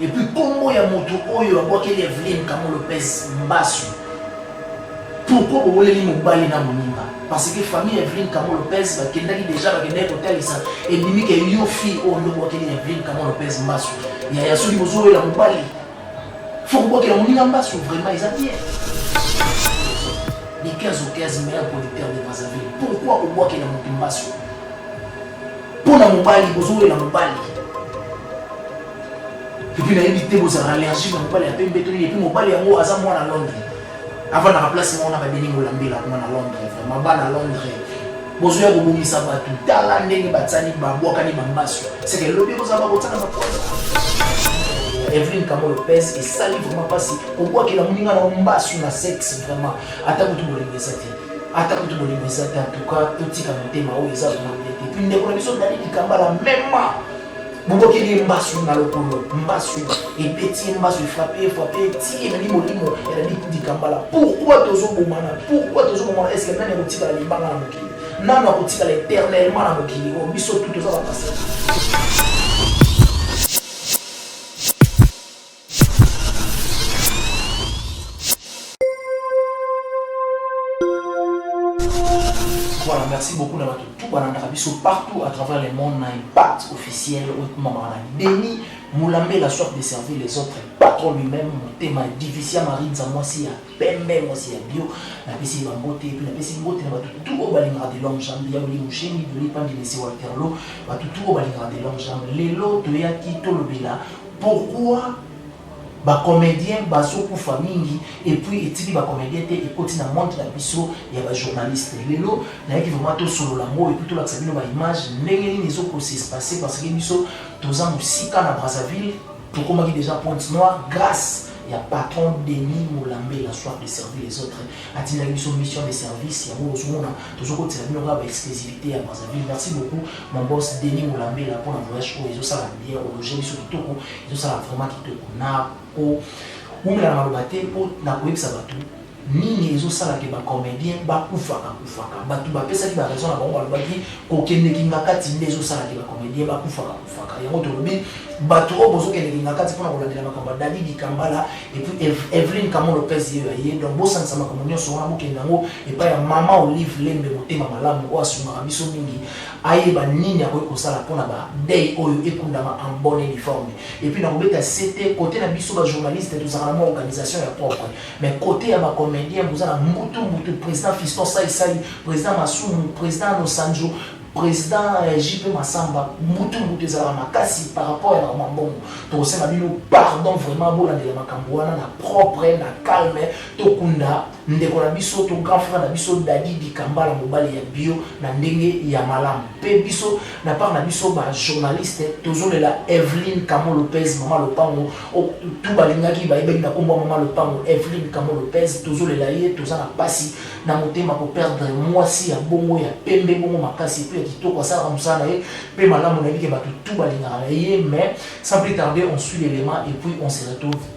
Et puis kombo ya moto oyo abwakeli Evelyne Kamo Lopez mbasu. Pourquoi boweleli mobali na moninga? Parce que famille Evelyne Kamo Lopez bakendaki déjà bakendaki kotalisa ebimi ke yo fille oyo nde obwakeli Evelyne Kamo Lopez mbasu. Yaya soki bozowela mobali faut kobwakela moninga mbasu vraiment eza bien. Les 15 au 15 meilleurs producteurs de Brazzaville. Pourquoi kobwakela moto mbasu? mpo na mobali bozowelela mobali epuis nayebi te bozala allergie na mobali ya pembe to nini epuis mobali yango aza mwana londre avandaka place moko na badelingi olambela kuna na londre vraimen bana londre bozoya kobongisa bato tala ndenge batsani babwakani bambaso seke lobi kozala bakotsana baposa Evelyn Kamo Lopez esali vraiment mpasi kobwakela moninga na mbasu na sexe vraiment ata kutu bolengesa te ata kutu bolingo eza te antuka totika motema oyo eza zona bie te puis ndeko na biso dali likambala mema bobokeli ye mbasu na lokolo mbasu ebeti ye mbasu efrape efrape eti ememi molimo elandi likambala pourkui tozobomana pourkui tozobomana eske nani akotikala libanga na mokili nani akotikala éternellement na mokili oyo oh, biso tu toza bapasaka Voilà, merci beaucoup na bato tout balandaka biso partout à travers le monde na impact officiel oyo ekomamaka na beni molambe la soif de servir les autres patron lui-même motema divisia marinza mwasi ya pembe mwasi ya bio napesi ye bambote epi napesi mbote na bato tout oyo balingaka de long jambe ya olie mosheni doli pandinesi waterlo bato tout oyo balingaka de long jambe lelo toyaki tolobela Pourquoi ba comediens bazo kufa mingi et puis etiki ba comediens te ekoti na monde na biso ya ba journalistes lelo nayaki vraiment tosolola yango et puis tolakisa bino ba image ndenge nini ezo ko s'espace parce que biso toza mosika na Brazzaville tokomaki déjà pointe noire grâce ya patron Denis Molambe la soif de servir les autres atindaki biso mission de service yango ozomona tozokotisa bino kaka ba exclusivité ya Brazzaville merci beaucoup Mon boss Denis Mulambela mpo na voyage oyo ezosala bien ologe biso kitoko ezosala vraiment kitoko na ko wumela na maloba te mpo na koyebisa bato nini ezosala ke bacomédien bakufaka kufaka bato bapesaki baraison na bango balobaki kokende kingakati nde ezosala ke bacomédien bakufaka kufaka yango tolobi bato oyo bozokende kingakati mpona kolandela makambo ya dadi dikambala epuis evelyn kamo lopez ye ya ye donc bosanisa makambo nyonso wana bokende yango epai ya mama olive lembe motema malamu oyo asungaka biso mingi ayeba nini akoki kosala mpona ba deuil oyo ekundama en bonne et due forme et puis nakobeta sete cote na biso ba journaliste tozalaka na mwa organisation ya propre mais cote ya ba comedien boza na mbutu mbutu president fiston sai sai president masumu president nosanjo president euh, jp masamba mbutu mbutu ezalaka makasi par rapport ya bakoma mbongo tokosenga bino pardon vraiment bolandela makambo wana na propre na calme tokunda Ndeko na biso to grand frère na biso Dady Dikambala mobali ya bio na ndenge ya malamu pe biso na part na biso ba journaliste tozolela Evelyne Kamo Lopez mama lopango oh, tu balingaki bayebaki na kombo mama lopango Evelyne Kamo Lopez tozolela ye toza na pasi na motema ko perdre mwasi ya bongo ya pembe bongo makasi pe ya kitoko asalaka mosala na ye pe malamu na yebike bato tu balingaka na ye mais sans plus tarder on suit l'élément et puis on se retrouve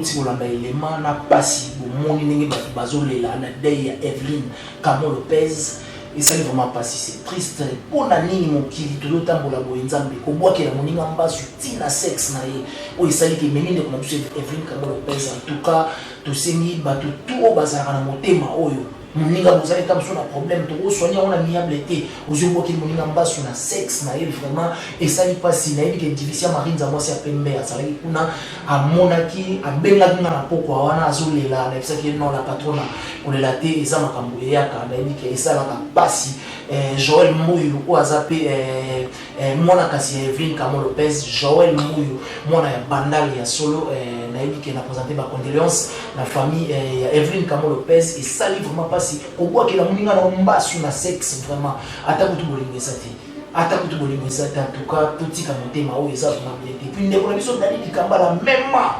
bouti kolanda elema na mpasi bomoni ndenge bato bazolela na dei ya eveline camo lopez Esali vraiment pasi c'est triste pona nini mokili tozo tambola boye nzambe kobwakela moninga mbasu ti na sexe na ye oyo esali ke memi ndeko na biso Evelyn Kango Lopez en tout cas tosengi bato tout oyo bazalaka na motema oyo moninga bozali ta mosusu na problème tokosoigner yango na miable te ozwi obwakeli moninga mbasu na sexe na ye vraiment esali mpasi nayebi ke division marie nzamwasi ya pembe azalaki kuna amonaki abengaki nga na pokwa wana azolela nayebisaki ye non la patrona kolela te eza makambo eyaka nayebi ke esalaka mpasi eh, joel mbuyu oyo aza mpe eh, eh, mwana kasi ya eveline kamo lopez joel mbuyu mwana ya bandale ya solo eh, nayebi ke na présente bacondoléance na famille eh, ya eveline kamo lopez esali vraiment mpasi kobwakela moninga na mbasu na sexe vraiment ata kutu bolingo eza te ata kutu bolingo eza te antuka totika motema oyo eza zuma bie te puis ndeko na biso dani likambala mema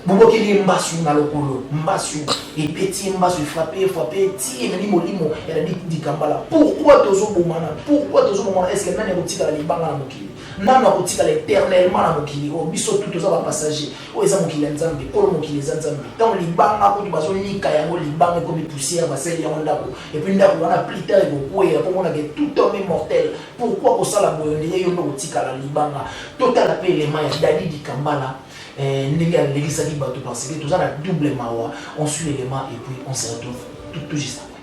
bobokeli ye mbasu na lokolo mbasu ebeti ye mbasu efrape efrape etie ememi molimo ya dani likambala pourkui tozobomana pourkui tozobomana eske nani akotikala libanga na mokili nani akotikala éternellement na mokili oyo oh, biso tu toza bapassager Oyo eza mokili ya Nzambe, kolo mokili eza Nzambe. Ntango libanga kutu bazonika yango, libanga ekomi poussière, basali yango ndako, et puis ndako wana plus tard ekokweya, mpo omonaka tout homme est mortel. Pourquoi kosala boye? On dirait yo nde okotikala libanga. Totala mpe element ya Dady Dikambala, eh, ndenge alekisaki bato, parce que toza na double mawa. On suit element et puis on se retrouve tout, tout juste après.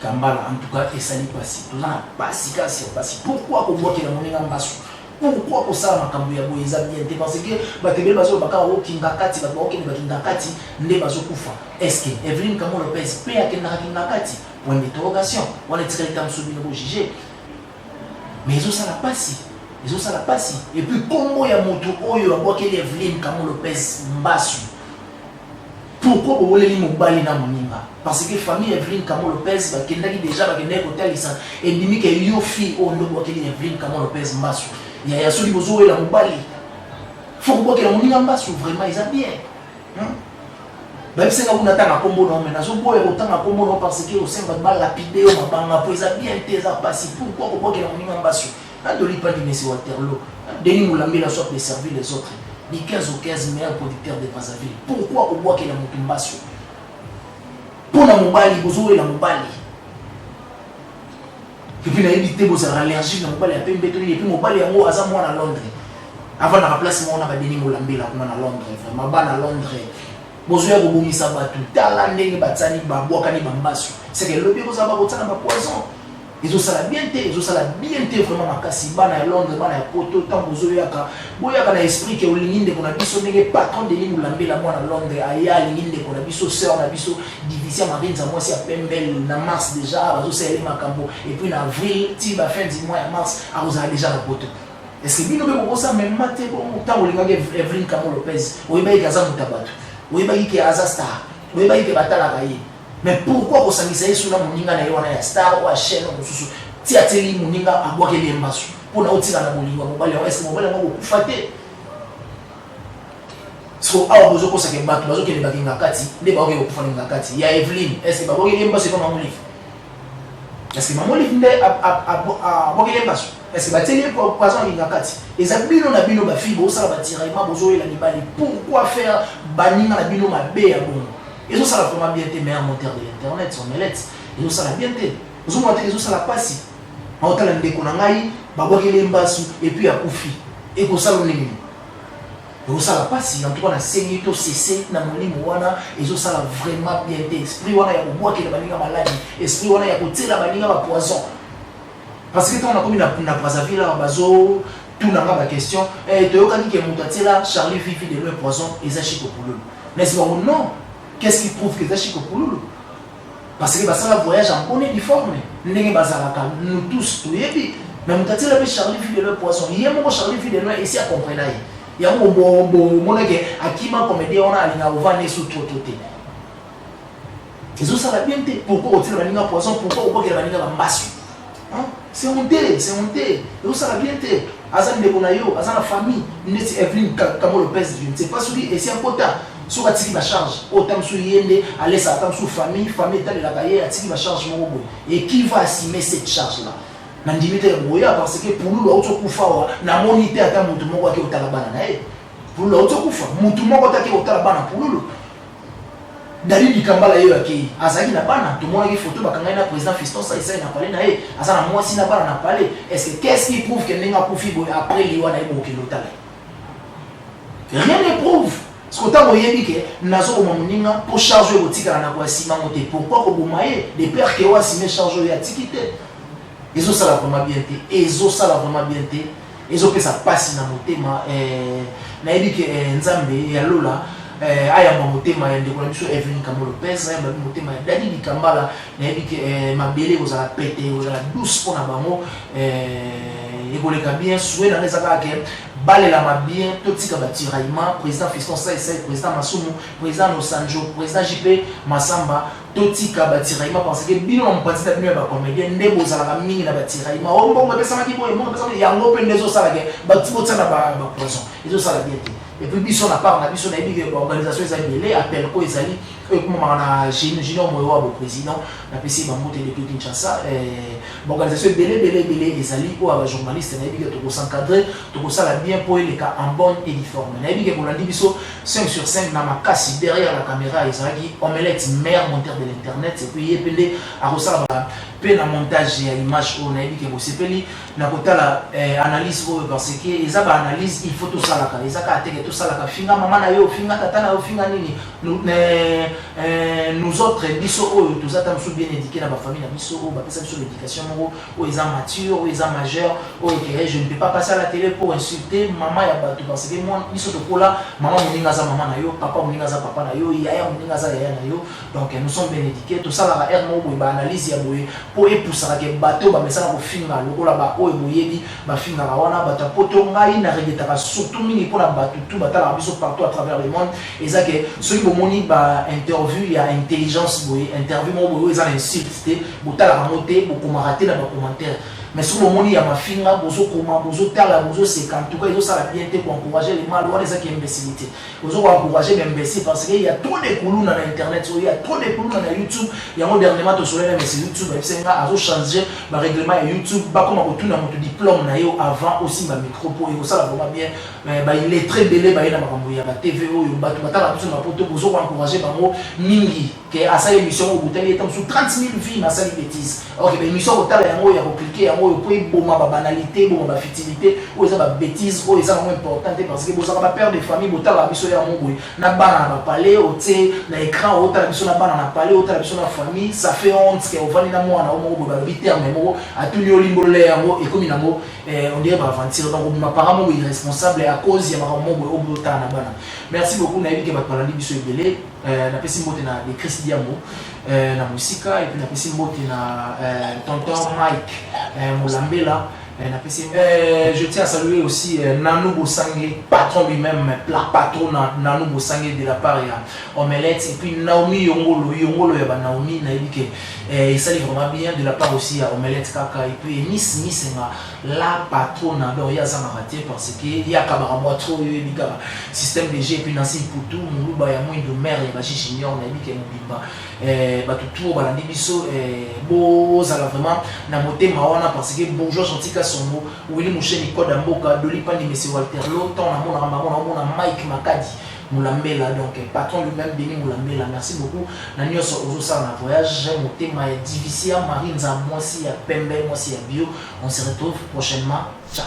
Kambala en tout cas esali pasi toza na pasi kasi ya pasi pourquoi kobwakela moninga mbasu pourquoi kosala makambo ya boye eza bien te parce que bato ebele bazoloba kaka okinga kati bato baokende bakinga kati nde bazokufa estce eveline kamo lopez mpe akendaka kinga kati point d'interrogation wana etikali ta mosusu bino bojuge mais ezosala pasi ezosala pasi epuis nkombo ya moto oyo abwakeli eveline kamo lopez mbasu Pourquoi boweleli mobali na moninga? Parce que famille ya Evelyne Kamo Lopez bakendaki dejà bakendaki kotalisa ebimi ke yo fille oyo nde obwakeli Evelyne Kamo Lopez mbasu. Yaya soki bozowela mobali faut kobwakela moninga mbasu vraiment eza bien. Hmm? bayebisi nga kuna tanga nkombo na yo mai nazoboya kotanga nkombo na yo parce que osengi bato balapide yo mabanga mpo eza bien te eza mpasi pourkoi kobwakela moninga mbasu Quand on lit pas du Messi Waterloo, Denis Moulambela soit de servir les autres, du 15 au 15 meilleur producteur de Brazzaville. Pourquoi au bois qu'il a Mutumbasu Pour la Mubali, vous et la Mubali. Et puis, il a évité vos allergies, la Mubali a payé béton, et puis Mubali a moi à Londres. Avant la place, on a Denis Moulambela, on a Londres, vraiment, ban à Londres. bozoya kobongisa bato tala ndenge batsani babwakani bambasu seke lobi ekozala bakotsana bapoison Ezosala bien te, ezosala bien te vraiment makasi bana ya Londres, bana ya poto tango bozoyaka boyaka na esprit ke olingi ndeko na biso ndenge patron Denis Mulambela mwana Londres aya alingi ndeko na biso sœur na biso Divisia Marinza mwasi ya pembe na mars deja bazosala ye makambo et puis na avril ti ba fin du mois ya mars akozala deja na poto eske bino mpe bokosa mema te bongo ntango olingaki evelyn kamo lopez oyebaki ke aza moto ya bato oyebaki ke aza star oyebaki ke batalaka ye Mais pourquoi kosangisa yesu na moninga na ye wana ya star oyo ya chaine mosusu ti atieli moninga abwakeli ye mbasu mpo na otika na bolingo ya mobali yango eske mobali yango akokufa te so awa bozokosaka bato bazokende bakinga kati nde baoke kokufa ninga kati ya eveline eske babwakeli ye mbasu epa mamolive eske mamolive nde abwakeli ye mbasu eske batieli ye poison akinga kati eza bino na bino bafille bosala batiraillement bozoyela mibali pourquoi faire baninga na bino mabe ya bongo ezo sala vraiment bien te meilleur monteur de l'internet son melette ezo sala bien te ozo mona te ezo sala pasi aotala ndeko na ngai babwakeli ye mbasu epuis akufi ekosala ndenge nini ekosala mpasi en tout cas nasengi to sese na molimo wana ezosala vraiment bien te esprit wana ya kobwakela baninga maladi esprit wana ya kotyela baninga bapoison Parce que tango nakomi na, na Brazzaville awa bazo tuna nga ba question eh, toyokaki ke moto atiela Charlie Vivi de loin poison eza Chico Pululu. Nasi bango non, qu'est-ce qui prouve que eza Chico Pululu? Parce que basala voyage en bonne et due forme ndenge bazalaka nous tous toyebi mais moto atiela mpe Charlie Vivi de loin poison ye moko Charlie Vivi de loin esi acomprena ye yango bomonake akima comédien wana alinga ovanda esu trop trop te Ezo sala bien te pourquoi otira baninga poison pourquoi obokela baninga ba mbasi hein c'est honte c'est honte ezo sala bien te aza ndeko na yo aza na famille neti Evelyn Kamo Lopez je ne sais pas soki esi akota soki atiki ba charge oyo oh, tamsu ye nde alesa tamsu famille famille etalelaka ye atiki ba charge moko boye et qui va assumer cette charge là nandimi te boya parce que pululu auti okufa awa namoni te ata motu moko ake otala bana na ye pululu auti okufa motu moko te ake otala bana pululu Dali Dikambala ye oyo akeyi azalaki na bana? Tomonaki photo bakanga ye na president Fiston Sai Sai na palais na ye, aza na mwasi na bana na palais. Est ce que qu'est ce qui prouve que ndenge akufi boye après liwa na ye bokokende otala ye? Rien ne prouve. Siko tango oyebi ke nazoboma moninga po charge oyo ekotikala na koya sima ngo te, pourquoi koboma ye de peur ke oyo asime charge oyo ye atiki te? Ezosala vraiment bien te, ezosala vraiment bien te. ezo pesa pasi na motema eh, nayebi ke eh, nzambe ya lola eh, ayamba motema ya ndeko na biso evelyn kambo lopez ayamba bi motema ya dadi likambala nayebi ke eh, mabele ekozala pete ekozala douce mpo na bango eh, ekoleka bien sue nanga eza kaka ke balelama bien totika batiraillement président fiston saisai président masumu président nosanjo président jp masamba Totika ba tiraillement parce que bino na mopanzi na bino ya ba comedien nde bozalaka mingi na ba tiraillement o oh, mbongo epesamaki boye mbongo epesamaki yango mpe nde ezosala ke bati botia na ba poison ezosala bien te et puis biso na part na biso nayebi ke ba organisation eza ebele appel ko ezali oyo ekomamaka na junior moyo wa boprésident napesi bambote depuis kinshasa eh, baorganisation ebele ebele ebele ezali oyo ya bajournaliste nayebi ke tokosencadre tokosala bien mpo eleka en bonne et difforme nayebi ke bolandi biso 5 sur 5 na makasi derrière la caméra ezalaki omelette meilleur monteur de l'internet et puis ye pende akosala ba pe na montage ya image oyo nayebi ke bosepeli na kotala eh, analyse oyo parce que eza ba analyse il faut tosalaka eza kaka teke tosalaka finga mama na yo finga tata na yo finga nini nous, eh, eh, nous autres biso oyo toza ta mosusu bien éduqué na bafamille na biso oyo bapesa biso l'éducation moko Oyo eza mature, oyo eza majeur, oyo etere, je ne peux pas passer à la tele pour insulter maman ya batu parce que moi biso tokola maman moninga aza maman na yo, papa moninga aza papa na yo, yaya moninga aza yaya na yo. Donc nous sommes bien éduqués, tosalaka air moko boye ba analyse ya boye po epusaka ke bato bamesana kofinga lokola ba oyo boyebi bafingaka wana bato ya poto. Ngai na regretaka surtout mingi mpo na bato tout batalaka biso partout à travers le monde eza ke soki bomoni ba interview ya intelligence boye interview moko boye oyo eza na insulte te botalaka yango te bokomaka te na bacommentaire mais soki bomoni ya mafinga bozokoma bozotala bozoseka ntuka ezosala bien te koencourage le mal wana ezaki imbécilité ozo koencourage baimbécile parce que ya trop de kuluna na internet oyo ya trop de kuluna na youtube yango dernièrement tosolai na mesi youtube ayebisaki nga azochange barèglement ya youtube bakoma kotuna moto diplôme na yo avant osimba micro mpo ekosala vraimen bien baillettre ebele baye na makambo ya batv oyo bato batalaka biso na poto bozo koencourage bango mingi que asali emission oyo botali ye ntango mosusu 30 mille vie na asali bétise ok ba émission kotala yango oyo ya koklike yango oyo mpo eboma babanalité eboma bafitilité oyo eza babétise oyo eza yango important te parce que bozalaka bapère de famille botalaka biso ya yango boye na bana na bapale otie na écran otala biso na bana na pale otala biso na famille ça fait honte ke ovandi na mwana o moko boye balobi terme moko atuni yo limbolola yango ekomi nango eh, on dirait baaventure donc obima parent moko irresponsable à cause ya makambo moko boye oyo botala na bana merci beaucoup nayebi ke bato balandi biso ebele Euh, napesi mbote na de chris diambo euh, na mosika epuis napesi mbote na euh, tonton mike euh, molambela euh, napesi euh, je tiens à saluer aussi euh, nano bosange patron lui-même plat patron na nano bosange de la part ya omelette et puis naomi yongolo yongolo ya banaomi nayebi ke euh, esali vraiment bien de la part aussi ya omelette kaka et puis miss misenga La patrona donc ye azangaka te parce que ye akabaka mua trop yo oyebi kaka système de jeu epuis nancy iputu muluba ya mwindo mère ya baji junior nayebi ke mobimba eh, bato trop balandi biso eh, bozala vraiment na motema wana parce que bourgeois gentil kasongo willi musheni koda mboka doli pandi mese walterlo ntango namonaka bango naomona mike makadi Mulambela donc patron lui meme Denis Mulambela merci beaucoup na nionso ozo sala na voyage j'ai motema ya divicia Marie nza mwasi ya pembe mwasi ya bio on se retrouve prochainement ciao